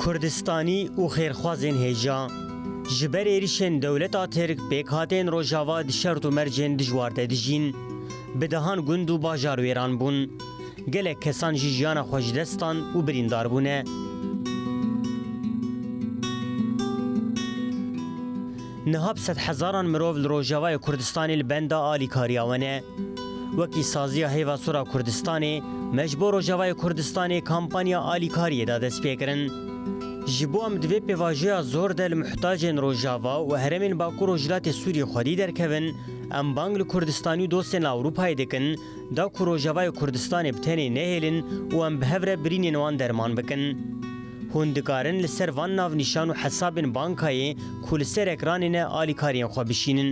Kurdistanî û xêrxwazên hêja ji ber êrişên dewleta Tirk pêkhatên Rojava di şert û mercên dijwar de dijîn. Bi dehan gund û bajar wêran bûn. Gelek kesan jî jiyana xwe ji dest dan û birîndar bûne. Niha bi sed hezaran mirov li Rojavayê Kurdistanê li benda alîkariya we ne. Wekî Saziya Hêva Sor a Kurdistanê me ji bo Rojavayê Kurdistanê kampanya alîkariyê da destpêkirin. Ji bo em di vê pêvajoya zor de li muhtacên Rojava û herêmên Bakur Rojhilatê Sûriyê xwedî derkevin, em bang li Kurdistanî û dostên li Ewropayê dikin, Da ku Rojavayê Kurdistanê bi tenê nehêlin û em bi hev re birînên wan derman bikin. Hûn dikarin li ser van navnîşan û hesabên bankayê ku li ser ekranê ne alîkariyên xwe bişînin.